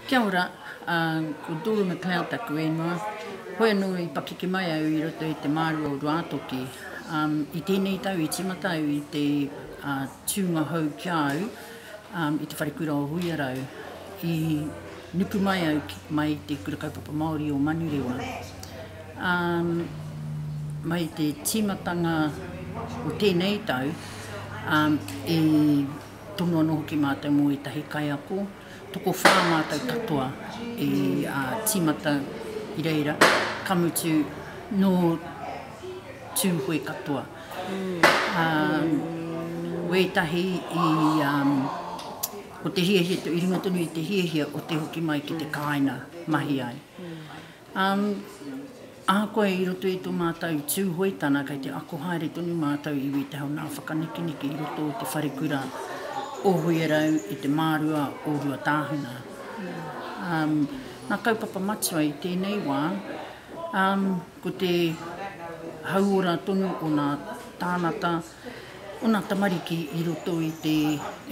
Kia ora, ko Dora McLeod taku ingoa. Hoi anō i pakeke mai au i roto i te māru o Ruātoki. I tēnei tau i tīmata au i te tūnga hou ki a au i te wharekura o Huiarau. I nuku mai au mai i te Kura Kaupapa Māori o Manurewa. Mai te tīmatanga o tēnei tau i. Tonu anō hoki mātou mō ētahi kaiako, tokowhā mātou katoa i tīmata i reira, ka mutu nō Tūhoe katoa. Wētahi i, ko te hiahia, i runga tonu i te hiahia o te hoki mai ki te kāinga mahi ai. Um, ahakoa i roto i to mātou Tūhoetana kei te ako haere tonu mātou iwi te hau nā whakanekeneke i roto i te wharekura o Huiarau i te mārua o Ruatāhuna. Um, nā kaupapa matua i tēnei wā, um, ko te hauora tonu o nā tānata, o nā tamariki i roto i te,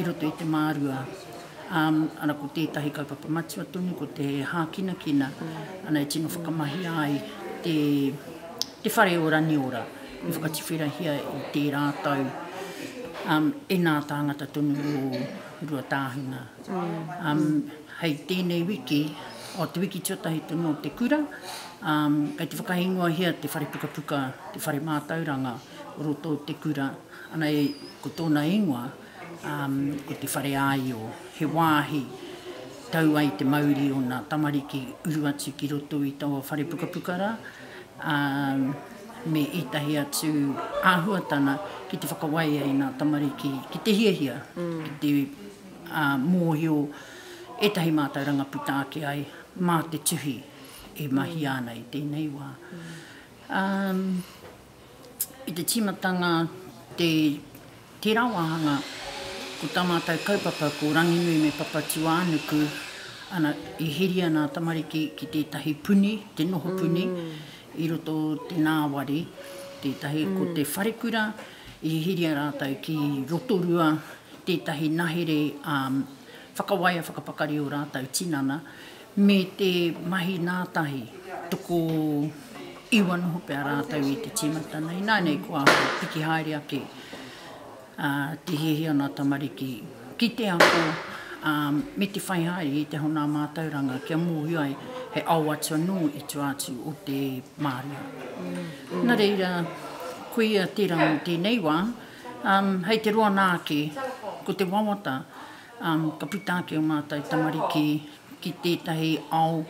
i roto i te mārua. Ara ko tētahi kaupapa matua tonu ko te hākinakina ana e tino whakamahia ai te whare o Raniora i whakatuwherahia i tērā tau e nā tāngata tonu o Ruatāhuna. Hei tēnei wiki, o te wiki tuatahi tonu o te kura, kei te whakaingoahia te whare pukapuka, te whare mātauranga o roto o te kura, ana ko tōna ingoa, Ko te whare āio, he wāhi tau ai te mauri o ngā tamariki uru atu ki roto i taua whare pukapuka rā, ā, me ētahi atu āhuatanga ki te whakawai ai ngā tamariki ki te hiahia, ki te mōhio ētahi mātauranga puta ake ai mā te tuhi e mahia ana i tēnei wā. i te tīmatanga te tērā wāhanga, ko tā mātou kaupapa ko Ranginui me Papatūānuku, ana, e heri ana a tamariki ki tētahi puni, te noho puni, i roto o te nāwari, tētahi ko te wharekura, i heria rātou ki Rotorua, tētahi nahere whakawaia whakapakari o rātou tinana, Me te mahi nātahi, toko iwa noho pea rātou i te tīmata nei. Ināinei kua piki haere ake te hiahia o nā tamariki ki te ako me te whai haere i te hona mātauranga kia mōhio ai he ao atu anō i tua atu o te mārie. Nā reira, koia tērā mō tēnei wā, hei te roa nā ake, ko te wawata, Ka puta ake ō mātou tamariki ki tētahi ao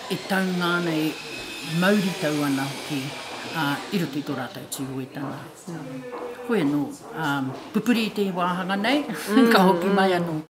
e taunga ana, e mauritau ana hoki i roto i tō rātou tūhoetanga. Hoi anō, pupuri i te wāhanga nei, ka hoki mai anō.